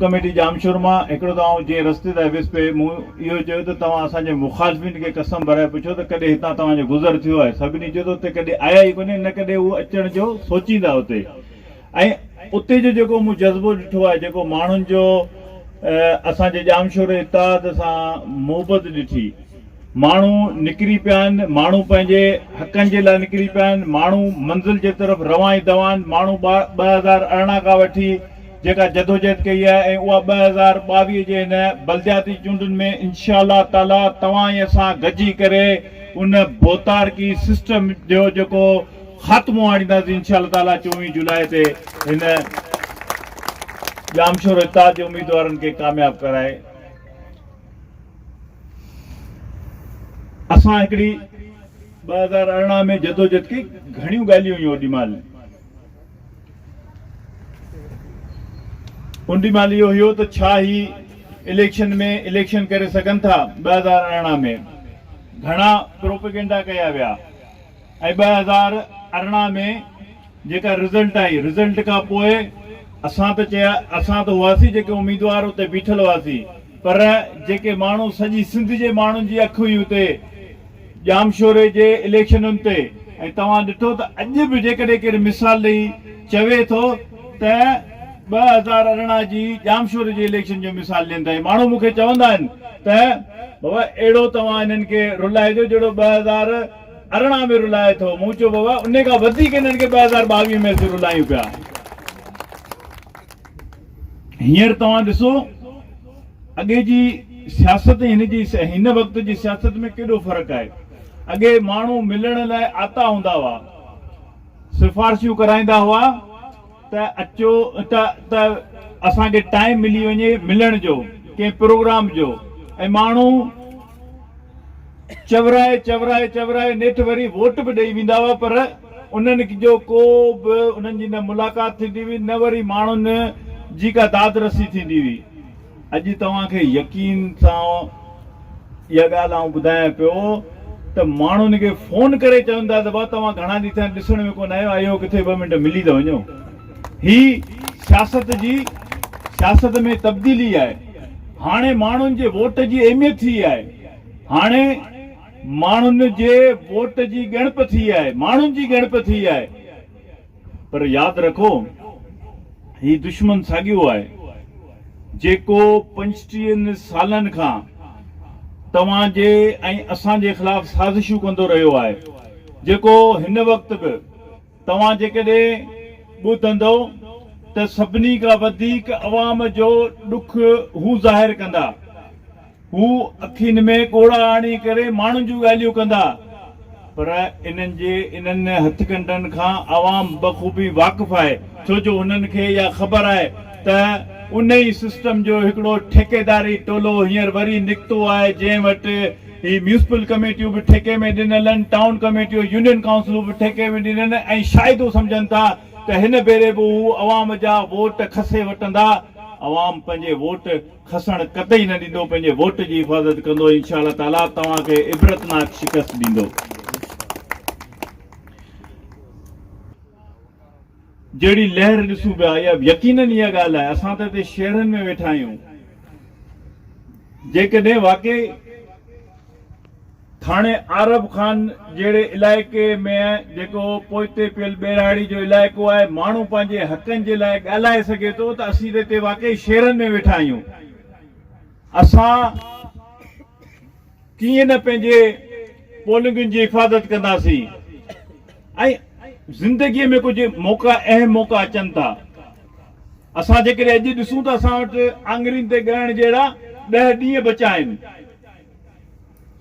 Committee Jamshoro مان هڪڙو ته آئون جيئن رستي تان ويس پئي مون اهو چيو ته توهان اسان جي مخالفين کي قسم ڀرائي پڇو ته ڪڏهن هتان توهان جو گذر ٿيو آهي سڀني چيو ته اتي ڪڏهن آيا ئي ڪونهن نه ڪڏهن هو اچڻ جو سوچيندا اتي ۽ اتي جو جيڪو مون جذبو ڏٺو آهي جيڪو ماڻهن جو اسان جي ڄامشور اتحاد سان محبت ڏٺي ماڻهو نڪري پيا آهن ماڻهو پنهنجي حقن جي لاء نڪري پيا آهن ماڻهو منزل جي طرف روان ئي دوان ماڻهو ٻه هزار ارڙهن کان وٺي جيڪا جدوجهد ڪئي آهي ۽ اها ٻه هزار ٻاويهه جي هن بلدياتي چونڊن ۾ انشاء الله تعاليٰ توهان ۽ اسان گڏجي ڪري ان ڀوتارڪي سسٽم جو جيڪو خاتمو آڻينداسين انشاء الله تعاليٰ چوويهه جولاء تي هن ڄامشورو اتحاد جي اميدوارن کي ڪامياب ڪرائي اسان هڪڙي ٻه هزار ارڙهن ۾ جدوجهد ڪئي گهڻيون ڳالهيون هيون اوڏي مهل انڊيمال اهو هيو ته ڇا هي اليڪشن ۾ اليڪشن ڪري سگهن ٿا ٻه هزار ارڙهن ۾ گهڻا پروپيگنڊا ڪيا ويا ۽ ٻه هزار ارڙهن ۾ جيڪا رزلٽ آئي رزلٽ کان پوء اسان ته چيا اسان ته هئاسين جيڪي اميدوار اتي بيٺل هئاسين پر جيڪي ماڻهو سڄي سنڌ جي ماڻهن جي اک هئي اتي ڄامشوري جي اليڪشنن تي ۽ توهان ڏٺو ته اڄ به جيڪڏهن ڪير مثال ڏئي چوي ٿو ته ٻه هزار ارڙهن جي ڄامشوري جي اليڪشن جو مثال ڏين ٿا ۽ ماڻهو مون کي چوندا آهن ته بابا اهڙو توهان انهن کي رلائجو جهڙو ٻه هزار ارڙهن ۾ رلائي ٿو مون چيو بابا انهي کان وڌيڪ انهن کي ٻه هزار ٻاويهه ۾ اسين رلايون پيا. هينئر توهان ڏسو اڳي جي سياست ۽ هن جي هن وقت جي سياست ۾ ڪيڏو فرق آهي. اڳي ماڻهو ملڻ لاء آتا هوندا هئا، سفارشيون ڪرائيندا هئا ته اچو ته ته اسان کي ٽائيم ملي وڃي ملڻ جو، ڪنهن پروگرام جو ۽ ماڻهو چورائي چورائي چورائي نيٺ وري ووٽ به ڏئي ويندا هئا پر انهن جو ڪو به انهن جي نه ملاقات ٿيندي هئي نه وري ماڻهن جي ڪا داد رسي ٿيندي هئي. اڄ توهان کي يقين سان اها ڳالهه آئون ٻڌايان پيو ته ماڻهن کي فون ڪري چون ٿا ته ڀاء توهان گهڻا ڏينهن ٿيا آهن ڏسڻ ۾ ڪونه آيو آهيو ڪٿي ٻه منٽ ملي ته وڃو. هي سياست جي سياست ۾ تبديلي آهي هاڻي ماڻهن جي ووٽ جي اهميت ٿي آهي هاڻي ماڻهن جي ووٽ جي ڳڻپ ٿي آهي ماڻهن جي ڳڻپ ٿي آهي پر ياد رکو هي دشمن ساڳيو آهي جيڪو پنجٽيهن سالن کان توهان جي ۽ اسان جي خلاف سازشون ڪندو رهيو آهي جيڪو هن وقت به توهان جيڪڏهن ٻڌندؤ ته سڀني کان وڌيڪ عوام جو ڏک هو ظاهر ڪندا. هو اکين ۾ ڳوڙها آڻي ڪري ماڻهن جون ڳالهيون ڪندا. پر انهن جي انهن هٿڪنڊن کان عوام بخوبي واقف آهي ڇو جو هنن کي اها خبر آهي ته انهي سسٽم جو هڪڙو ٺيڪيداري ٽولو هينئر وري نڪتو آهي جنهن وٽ هي ميونسپل ڪميٽيون به ٺيڪي ۾ ڏنلن، ٽائون ڪميٽيون، يونين ڪائونسلون به ٺيڪي ۾ ڏنين ۽ شايدو سمجهن ٿا ته هن ڀيري به هو عوام جا ووٽ کسي وٽندا. عوام پنهنجي ووٽ کسڻ قطعي نه ڏيندو، پنهنجي ووٽ جي حفاظت ڪندو ۽ انشاء الله تعاليٰ توهان کي عبرتناڪ شڪست ڏيندو. جهڙي لهر ڏسون پيا يا يقينن اها ڳالهه آهي اسان ته هتي شهرن ۾ ويٺا آهيون جيڪڏهن واقعي ٿاڻي عارب خان جهڙي علائقي ۾ جيڪو پوئتي پيل ٻهراڙي جو علائقو آهي ماڻهو پنهنجي حقن جي لاء ڳالهائي سگهي ٿو ته اسين ته هتي واقعي شهرن ۾ ويٺا آهيون اسان ڪيئن نه پنهنجي پولنگن جي حفاظت ڪنداسين ۽ زندگيء ۾ ڪجهه موقعا اهم موقعا اچن ٿا. اسان جيڪڏهن اڄ ڏسون ته اسان وٽ آڱرين تي ڳڻڻ جهڙا ڏهه ڏينهن بچا آهن.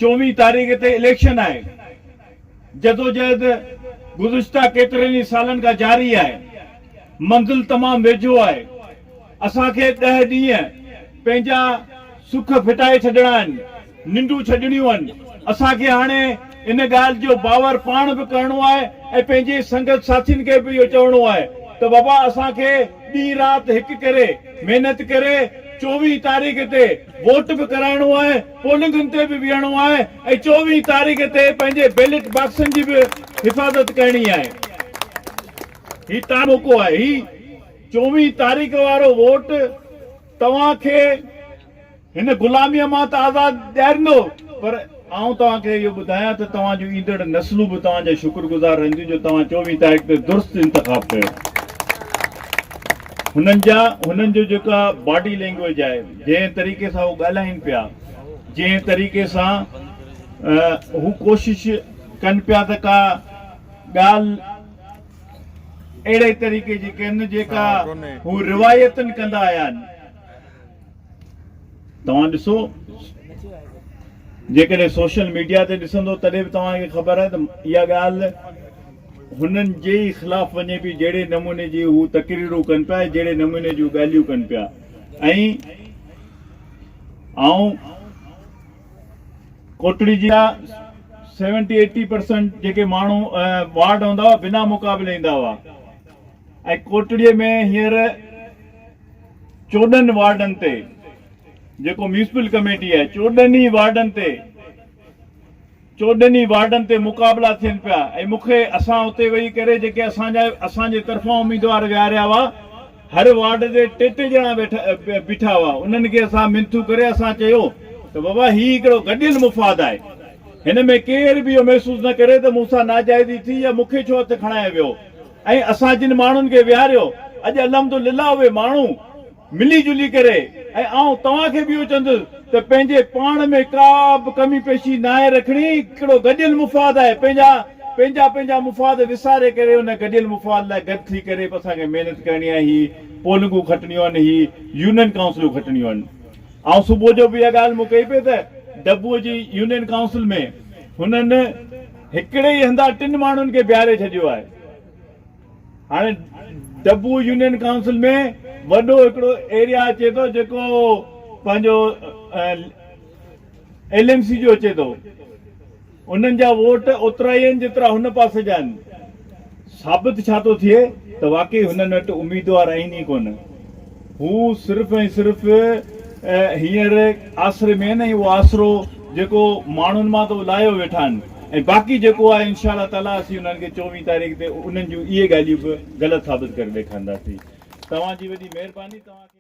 چوويهه تاريخ تي اليڪشن آهي. جدوجهد گذشته ڪيترن ئي سالن کان جاري آهي. منزل تمام ويجهو آهي. اسان کي ڏهه ڏينهن پنهنجا سک ڦٽائي ڇڏڻا آهن، ننڊون ڇڏڻيون آهن. اسان کي هاڻي ان ڳالهه جو باور پاڻ به ڪرڻو آهي ۽ پنهنجي سنگت ساٿين کي به اهو چوڻو آهي ته بابا اسان کي ڏينهن رات هڪ ڪري محنت ڪري چوويهين تاريخ تي ووٽ به ڪرائڻو آهي، پولنگن تي به ويهڻو آهي ۽ چوويهين تاريخ تي پنهنجي بيلٽ باڪسن جي به حفاظت ڪرڻي آهي. هي تاڻو موقعو آهي. چوويهه تاريخ وارو ووٽ توهان کي هن غلاميء مان ته آزاد ڏياريندو پر آئون توهان کي اهو ٻڌايان ته توهان جون ايندڙ نسلون به توهان جا شڪر گذار رهنديون جو توهان چوويهه تاريخ تي درست انتخاب ڪيو. هنن جا هنن جو جيڪا باڊي لينگويج آهي جنهن طريقي سان هو ڳالهائين پيا جنهن طريقي سان هو ڪوشش ڪن پيا ته ڪا ڳالهه اهڙي طريقي جي ڪن جيڪا هو روايتن ڪندا آيا آهن توهان ڏسو جيڪڏهن سوشل ميڊيا تي ڏسندو تڏهن به توهان کي خبر آهي ته اها ڳالهه هنن جي ئي خلاف وڃي پئي جهڙي نموني جي هو تقريرون ڪن پيا جهڙي نموني جون ڳالهيون ڪن پيا ۽ آئون ڪوٽڙي جا سيونٽي ايٽي پرسنٽ جيڪي ماڻهو وارڊ هوندا هئا بنا مقابلي ايندا هئا ۽ ڪوٽڙي ۾ هينئر چوڏهن وارڊن تي جيڪو ميونسپل ڪميٽي آهي چوڏهن ئي وارڊن تي چوڏهن ئي وارڊن تي مقابلا ٿين پيا ۽ مونکي اسان اتي ويهي ڪري جيڪي اسان جا اسان جي طرفان اميدوار ويهاريا هئا هر وارڊ تي ٽي ٽي ڄڻا بيٺا هئا انهن کي اسان منٿون ڪري اسان چيو ته بابا هي هڪڙو گڏيل مفاد آهي هن ۾ ڪير به اهو محسوس نه ڪري ته مون سان ناجائزي ٿي يا مون کي ڇو هٿ کڻايو ويو ۽ اسان جن ماڻهن کي ويهاريو اڄ الحمدلله اهي ماڻهو ملي جلي ڪري ۽ آئون توهان کي به اهو چوندس ته پنهنجي پاڻ ۾ ڪا به ڪمي پيشي ناهي رکڻي، ڪهڙو گڏيل مفاد آهي، پنهنجا پنهنجا پنهنجا مفاد وساري ڪري ان گڏيل مفاد لاء گڏ ٿي ڪري به اسان کي محنت ڪرڻي آهي، هي پولنگون کٽڻيون آهن، هي يونين ڪائونسلون کٽڻيون آهن. آئون صبح جو به اها ڳالهه مون ڪئي پئي ته ڊبوء جي يونين ڪائونسل ۾ هنن هڪڙي ئي هنڌان ٽن ماڻهن کي بيهاري ڇڏيو آهي، هاڻي ڊبو يونين ڪائونسل ۾ وڏو هڪڙو ايريا اچي ٿو جيڪو پنهنجو ايل ايم سي جو اچي ٿو انهن جا ووٽ اوترا ئي آهن جيترا هن پاسي جا آهن ثابت ڇا ٿو ٿئي ته واقعي هنن وٽ اميدوار آهن ئي ڪونه هو صرف ۽ صرف هينئر آسري مين ۽ اهو آسرو جيڪو ماڻهن مان ته اهو لاهيو ويٺا آهن ۽ باقي جيڪو آهي انشاء الله تعاليٰ اسين انهن کي چوويهه تاريخ تي انهن جون اهي ڳالهيون به غلط ثابت ڪري ڏيکارينداسين توهان جي وڏي مهرباني توهان کي